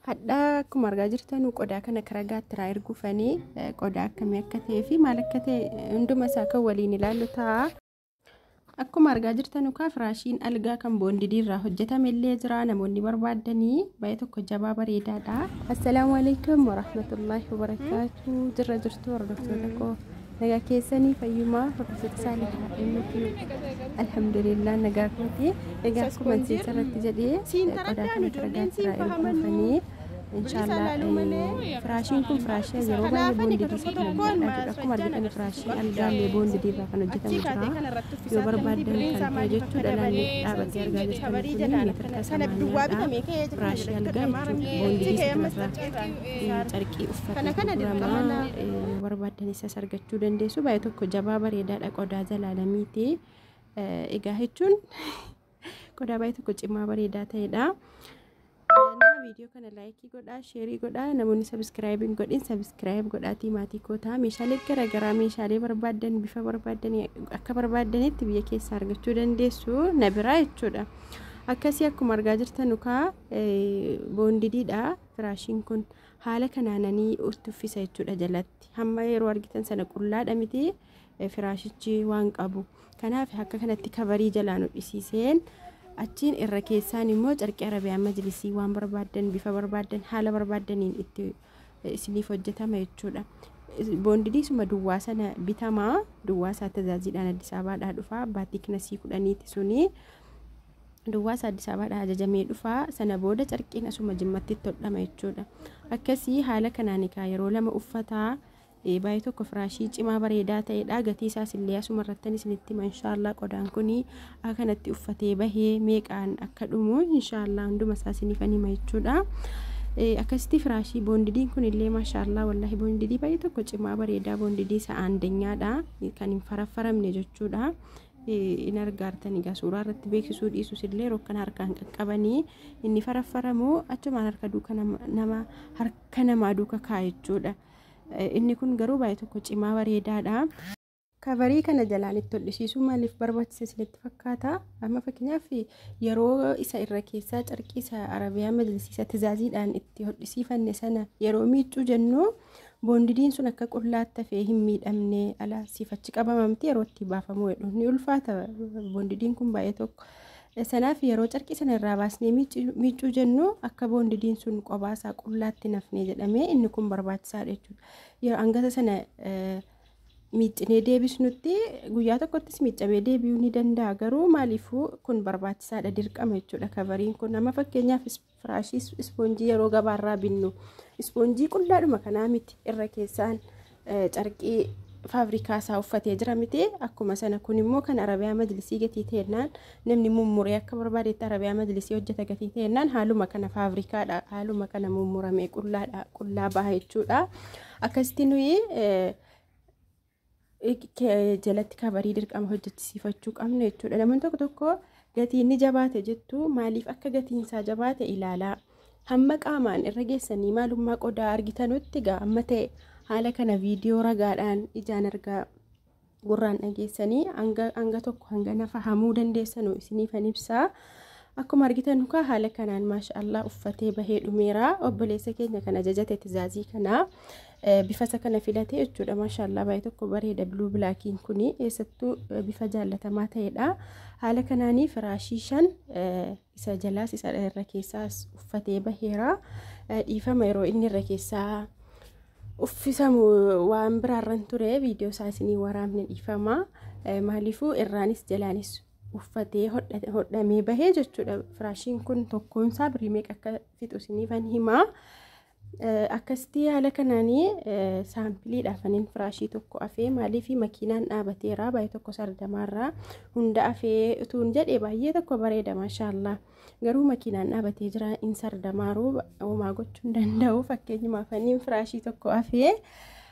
Hadhaa akkuma argaa jirtan qodaa kana karaa gaatti irraa erguu fanii qodaa akkamii akka ta'ee fi maal akka ta'e hunduma isaa kan waliin ilaallu ta'a. Akkuma argaa jirtan ukaa firaashiin algaa kan boondidii irraa hojjetame illee jira namoonni barbaadanii baay'ee tokko jabaa bareedaadha. Assalaamu alaikum warahmatullaahi wabarakaatu jirra jirtu hordoftoota koo. Nagaa keessanii fayyumaa hordoftoota saalihaa MTube alhamdulillah nagaa kooti egaa akkuma jecha irratti jedhee qodaa kana firagaa irraa erguufanii inshaallah firaashiin kun firaashii yeroo baay'ee boondidii isa kan hojjetadha akkuma argitan firaashii algaallee boondidii irraa kan hojjetamu jira yoo barbaaddan kan ta'e jechuu dhalaan dhaabatee argaa jirtan kun meetira samaaniyaadha firaashii algaa jechuudha boondidii isa kanarraa carqii uffata gurguramaa yoo barbaaddan isas argachuu dandeessu baay'ee tokko jabaa bareedaadha qodaa zalaalamiiti egaa jechuun qodaa baay'ee tokko cimaa bareedaa ta'edha. viidiyoo kana laayikii godhaa sheerii godhaa namoonni sabiskiraayib hin godhin sabiskiraayib godhaatii maatii kootaa meeshaalee garaagaraa meeshaalee barbaaddan bifa barbaaddan akka barbaaddanitti biyya keessaa argachuu dandeessu na biraa jechuudha akkasii akkuma argaa jirtan ukaa boondidiidha Firaashiin kun haala kanaananii urti uffisa jechuudha jalatti. Hamma yeroo argitan sana qullaadha miti firaashichi waan qabu. Kanaaf akka kanatti kabarii jalaan hodhisiiseen achiin irra keessaan immoo carqii arabiyaan majlisii waan barbaaddan bifa barbaaddan haala barbaaddaniin itti isiniif hojjetama jechuudha. Boondidii suma duwwaa sana bitamaa duwwaa isaa tajaajilaan Addis Abaadhaa dhufaa baatii kinasii kudhaniiti sunii. Duwwaasa Addis Ababaadhaa ajajamee dhufa. Sana booda carqiin asuma Jimmattitti hodhama jechuudha. Akkasii haala kanaan egaa yeroo lama uffata eh, baay'ee tokko firaashii cimaa bareedaa ta'edha. Gatii isaas illee asuma irrattan isinitti hima inshaallah qodaan kuni akka kanatti uffatee bahee meeqaan akka dhumu inshaallah hunduma isaa isiniifan hima jechuudha. Eh, Akkasitti firaashii boondidiin kun illee maashaallah wallahi boondidii baay'ee tokko cimaa bareedaa boondidii isa aandenyaadha kan hin faraffaramne jechuudha. in argaartan egaa suuraa irratti beeksisuu dhiisus illee yeroo akkana harkaan qaqqabanii inni faraffaramu achumaan harka duuka nama harka namaa duuka kaa'a jechuudha. Inni kun garuu baay'ee tokko cimaa bareedaadha. Kabarii kana jalaan itti hodhisiisuu maaliif barbaachise isinitti fakkaata? Amma fakkeenyaaf yeroo isa irra keessaa carqii isa arabiyaa majlisiisa tizaaziidhaan itti hodhisiifanne sana yeroo miiccuu jennu Boondidiin sun akka qullaatti hafee hin miidhamne ala siif achi qabama miti yeroo itti baafamuu jedhu ni ulfaata boondidiin kun baay'ee tokko. Sanaaf yeroo carqii sana irraa baasnee miiccuu jennu akka boondidiin sun qobaasaa qullaatti nafnee jedhamee inni kun barbaachisaadha jechuudha. Yeroo hangasa sana miiccinee deebisnutti guyyaa tokkottis miiccamee deebi'uu ni danda'a garuu maaliifuu kun barbaachisaadha dirqama jechuudha kavariin kun amma fakkeenyaaf Firaashii ispoonjii yeroo gabaarraa binnu ispoonjii qullaadhuma kanaa miti irra keessaan carqii faabrikaa isaa uffatee jira miti akkuma sana kun immoo kan arabiyaa majlisii gatii ta'ennaan namni mummuree akka barbaadetti arabiyaa majlisii hojjeta gatii ta'ennaan haaluma kana faabrikaadha haaluma kana mummuramee qullaadha qullaa baha jechuudha akkasitti nuyi jalatti kabarii dirqama hojjechisiifachuu qabnu jechuudha. Namoonni tokko tokko gatii inni jabaate jettu maaliif akka gatiin isaa jabaate ilaalaa. Hamma qaamaan irra geessanii maalummaa qodaa argitanutti gaa amma ta'e haala kana viidiyoo ragaadhaan ijaan argaa gurraan dhageessanii hanga tokko hanga nafa hamuu dandeessanu isiniifan ibsaa. Akkuma argitan nukaa haala kanaan maashaallah uffatee bahee dhumeera obboleessa keenya kan ajajate tizaazii kanaa bifasa kana filate jechuudha maashaallaa baay'ee tokko bareeda biluu bilaakiin kun eessattuu bifa jaallatamaa ta'edha haala kanaanii firaashii shan isa jalaas isa irra keessaas uffatee baheera dhiifama yeroo inni irra keessaa uffisamu waan biraarran ture viidiyoo isaa isinii waraabne dhiifama maaliifuu irraanis jalaanis uffatee hodhamee bahee jechuudha firaashiin kun tokkoonsaa birii meeqa akka fixu isiniifan himaa Akkasitti haala kanaan saampiliidha afaniin firaashii tokko afee maaliif makiinaan dhaabateera baay'ee tokko sardamaarraa hunda afee utuun jedhe baay'ee tokko bareeda maashaallaa garuu makiinaan dhaabatee jira in sardamaaruu homaa gochuu hin danda'u fakkeenyuma afaniin firaashii tokko afee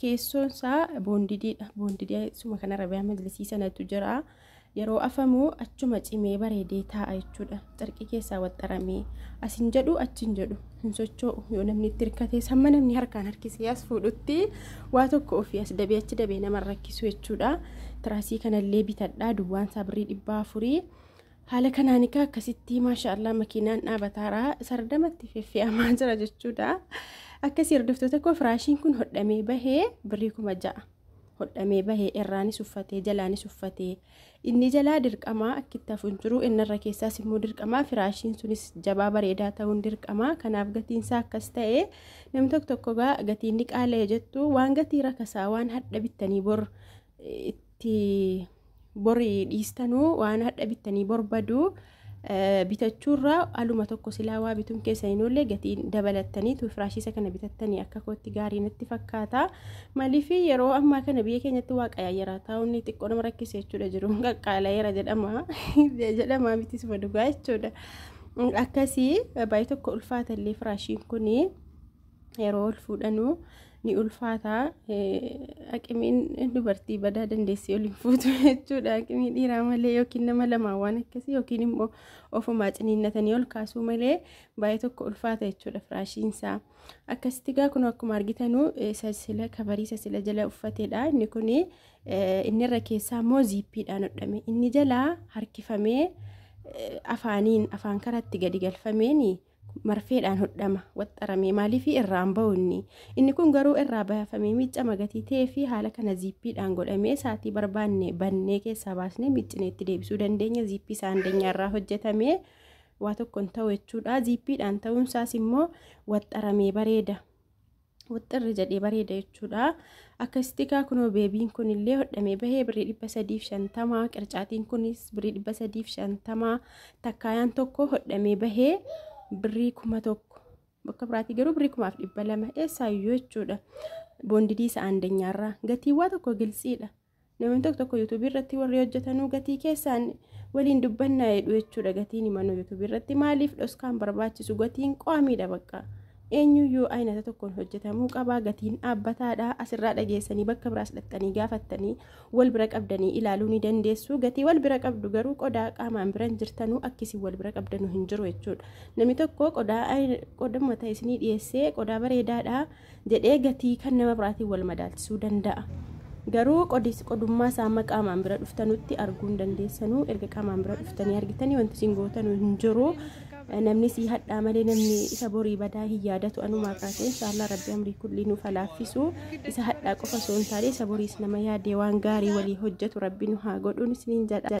Keessoon isaa boondidiidha. Boondidee suma kana rabiyaa majlisii sanatu jira. Yeroo afamu achuma cimee bareedee taa'a jechuudha. Carqii keessaa waxxaramee asin jedhu achin jedhu hin socho'u. Yoo namni itti hirkatees hamma namni harkaan harkisee as fuudhutti waa tokko ofii as dabee achi dabee nama rakkisu jechuudha. Tiraasii kanallee bitadhaa duwwaan isaa birrii dhibbaa afurii. Haala kanaan egaa akkasitti maasha Allah makiinaan dhaabataara sardamatti feffe'amaa jira jechuudha. Akkasii hordoftoota koo firaashiin kun hodhamee bahee birrii kuma ja'a. Hodhamee bahee irraanis uffatee jalaanis uffatee inni jalaa dirqamaa akkitti hafu hin jiru innarra keessaas immoo dirqamaa firaashiin sunis jabaa bareedaa ta'uun dirqamaa kanaaf gatiinsaa akkas ta'e namni tokko tokko gatiin ni qaala'e jettu waan gatii rakasaa waan hadha bittanii bor itti bori dhiistanu waan hadha bittanii borbaduu bitachuurraa aluma tokko silaa waa bituun keessa hin oolle gatiin dabalattanii tuufiraashiisa kana bitattanii akka kootti gaarii natti fakkaata. Maaliif yeroo ammaa kana biyya keenyatti waa qayaayyaraa taa'uun xiqqoo nama rakkisa jechuudha jiru qaqqaalayeera jedhama jedhama miti suma dhugaa jechuudha. Akkasii baay'ee tokko ulfaata illee firaashiin kuni. yeroo ol fuudhanu ni ulfaata aqimiin dubartii badaa dandeessee ol hin fuutu jechuudha aqimii dhiiraa malee yookiin nama lamaa waan akkasii yookiin immoo ofumaa ciniinnatanii ol kaasuu malee baay'ee tokko ulfaata jechuudha firaashiinsaa akkasitti gaa kun akkuma argitanu sasila kabarii sasila jala uffateedha inni kun inni irra keessaa immoo ziippiidhaan hodhame inni jalaa harkifamee afaaniin afaan karatti gadi galfameeni. marfeedhaan hodhama waxxarame maaliifii irraan ba'u inni inni kun garuu irraa baafamee miicca magatii ta'ee fi haala kana ziippiidhaan godhamee saatii barbaanne bannee keessaa baasnee miiccinee itti deebisuu dandeenya ziippii isaa andenyaa irraa hojjetamee waa tokkoon ta'u jechuudha ziippiidhaan ta'uun isaas immoo waxxaramee bareeda. wixxirri jedhee bareeda jechuudha. Akka istikaa kunoo beebiin kun illee hodhamee bahee birrii dhibba sadiif shantama qircaatiin kunis birrii dhibba sadiif shantama takkaayaan tokko hodhamee bahee birrii kuma tokko bakka biraatii garuu birrii kumaaf dhibba lama eessaayyuu jechuudha. Boondidii isa aandenyaarraa gatiiwwaa tokko giltsiidha. Namni tokko tokko yuutuubii irratti warri hojjetanuu gatii keessaan waliin dubbannaa jedhu jechuudha gatiin imanuu yuutuubii irratti maaliif dhoskaan barbaachisu gatiin qo'amiidha bakka eenyuyyuu aynata tokkoon hojjetamuu qabaa gatiin dhaabbataadha asirraa dhageessanii bakka biraas dhaqxanii gaafattanii wal bira qabdanii ilaaluu ni dandeessu gatii wal bira qabdu garuu qodaa qaamaan biran jirtanuu akkisii wal bira qabdanuu hin jiru jechuudha namni tokko qodaa qodaa mataa isinii dhiyeessee qodaa bareedaadha jedhee gatii kan nama biraatiin wal madaalchisuu danda'a. Garuu qodiis qodummaa isaa amma qaamaan bira dhuftanutti arguu hin dandeessanuu erga qaamaan bira dhuftanii argitanii wanti isin gootanuu hin jiru. Namni sii hadhaa malee namni isa borii badaa hin yaadatu anumaa kaasee inshaallah rabbi amrii kullii nuuf halaaffisu isa hadhaa qofa osoo hin taane isa boriis nama yaadee waan gaarii walii hojjetu rabbi nu haa godhuun isiniin jedha.